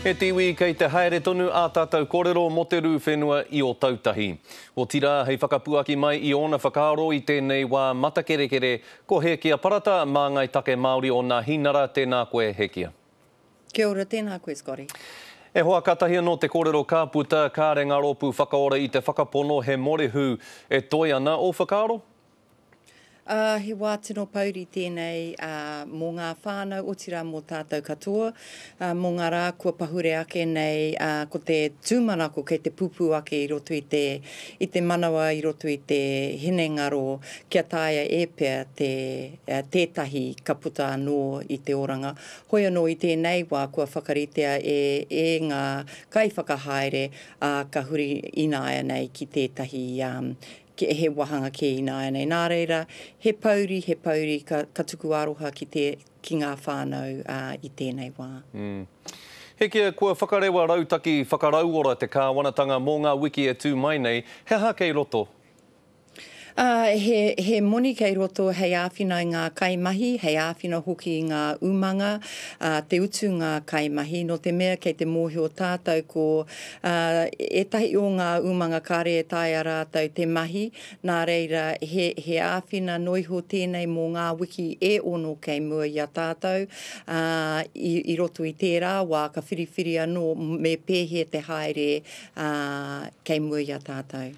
E te iwi, kei te haere tonu ā tātou kōrero mō te rū whenua i Ōtautahi. Otirā, hei whakapuaki mai i ōna whakaaro i tēnei wā matakerekere, ko Hēkia Parata, māngai take Māori o Nāhinara, tēnā koe, Hēkia. Kia ora, tēnā koe, Scotty. E hoa, kātahi anō te kōrero ka puta, kāre ngā rōpū whakaora i te whakapono he mōrehu e toe ana ō whakaaro? Ā, he wā tino pouri tēnei mō ngā whānau, otirā mō tātou katoa, mō ngā rā kua pahure ake nei, ko te tūmanako kei te pupū ake i roto i te, i te manawa, i roto i te hinengaro kia taea e pea te, tētahi ka puta anō i te oranga. Hoi anō i tēnei wā kua whakaritea e, e ngā kaiwhakahaere, ā, ka huri ināianei ki tētahi, he wāhanga kē ināianei. Nā reira, he pouri, he pouri, ka, ka tuku aroha ki, te, ki ngā whānau ā, i tēnei wā. Mm. Hekia, kua whakarewa rautaki whakarauora te Kāwanatanga mō ngā wiki e tū mai nei, he aha kei roto? Ā, he, he moni kei roto hei āwhina i ngā kaimahi, hei āwhina hoki i ngā umanga, ā, te utu ngā kaimahi, nō te mea kei te mōhio tātou ko Ā, ētahi o ngā umanga kāre e taea rātou te mahi, nā reira, he, he āwhina noa iho tēnei mō ngā wiki e ono kei mua i a tātou, ā, i, i roto i tērā wā ka whiriwhiri anō me pēhea te haere, ā, kei mua i a tātou.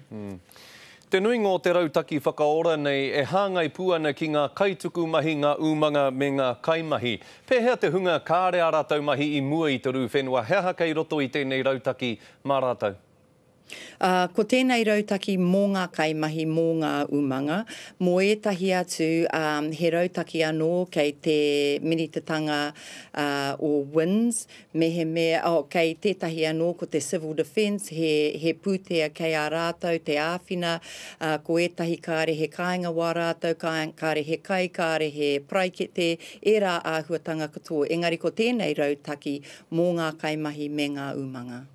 Te nuinga o te rautaki whakaora nei e hāngai pū ana ki ngā kaituku mahi, ngā umanga, me ngā kaimahi. Pēhea te hunga kāre ā rātou mahi i mua i te rū whenua, he aha kei roto i tēnei rautaki mā rātou? Ā, ko tēnei rautaki mō ngā kaimahi, mō ngā umanga, mō ētahi atu, ā, he rautaki anō kei te minitatanga o WINZ, Mehemea, oh, kei tētahi anō, ko te Civil Defence, he, he pūtea kei a rātou te āwhina, ā, ko ētahi kāre he kāinga wā rātou, kā, kāre he kai, kāre he paraikete, ērā āhuatanga katoa. Engari ko tēnei rautaki mō ngā kaimahi me ngā umanga.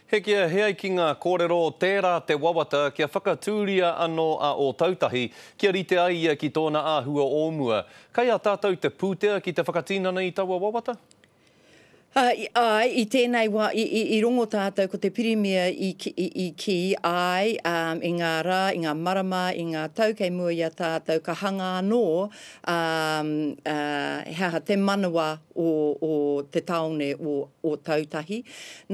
Hekia, he ai ki ngā kōrero, tērā te wawata kia whakatūria anō a Ōtautahi, kia rite ai ia ki tōna āhua o mua. Kei a tātou te pūtea ki te whakatinana i taua wawata? Āe, i tēnei wā, i rongo tātou ko te Pirimia i kī, āe, i ngā rā, i ngā marama, i ngā tau kei mua i a tātou, ka hanga anō he aha, te manawa o te tāone o Ōtautahi.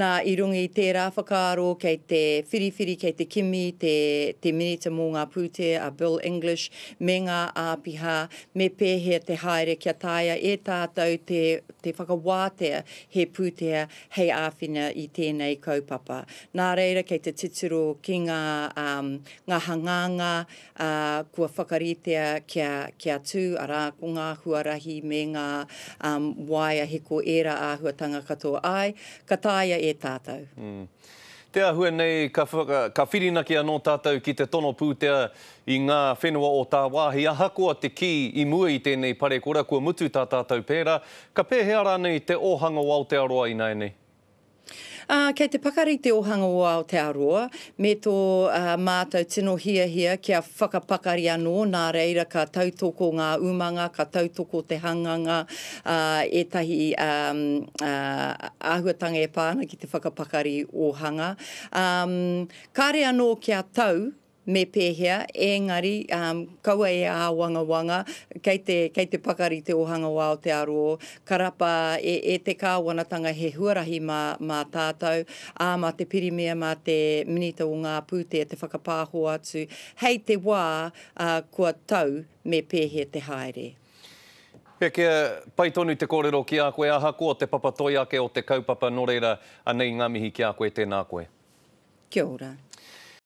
Nā, i runga i tērā whakaaro kei te whiriwhiri, kei te kimi te Minita mō ngā Pūtea a Bill English me ngā āpiha, Me pēhea te haere kia taea e tātou te, te whakawātea he pūtea hei āwhina i tēnei kaupapa. Nā reira kei te titiro ki ngā, ā, ngā hangāngā, ā, kua whakaritea kia, kia tū, arā, ko ngā huarahi me ngā, ā, waea hiko ērā āhuatanga katoa āe, ka taea e tātou. Te āhua nei, ka whirinaki anō tātou ki te tono pūtea i ngā whenua o tāwāhi, ahakoa te kī i mua i tēnei parekura kua mutu tā tātou pērā, ka pēhea rānei te ōhanga o Aotearoa ināianei? Ā, kei te pakari te ōhanga o Aotearoa me tō mātou tino hiahia kia. whakapakari anō, nā reira ka tautoko ngā umanga, ka tautoko te hanganga, ā, ētahi āhuatanga e pā ana ki te whakapakari ōhanga. Ā, kāre anō kia tau me pēhea, ēngari, ā, kaua e āwangawanga, kei te, kei te pakari te ōhanga wā o te aro, Karapa, E, e te Kāwanatanga he huarahi mā, mā tātou, ā, mā te Pirimia, mā te Minita o ngā Pūtea te whakapāho atu hei te wā, ā, kua tau me pēhea te haere. Pekea, Pai tonu te kōrero ki a koe ahakoa te papa toi ake o te kaupapa nō reira, anei ngā mihi ki a koe, tēnā koe. Kia ora.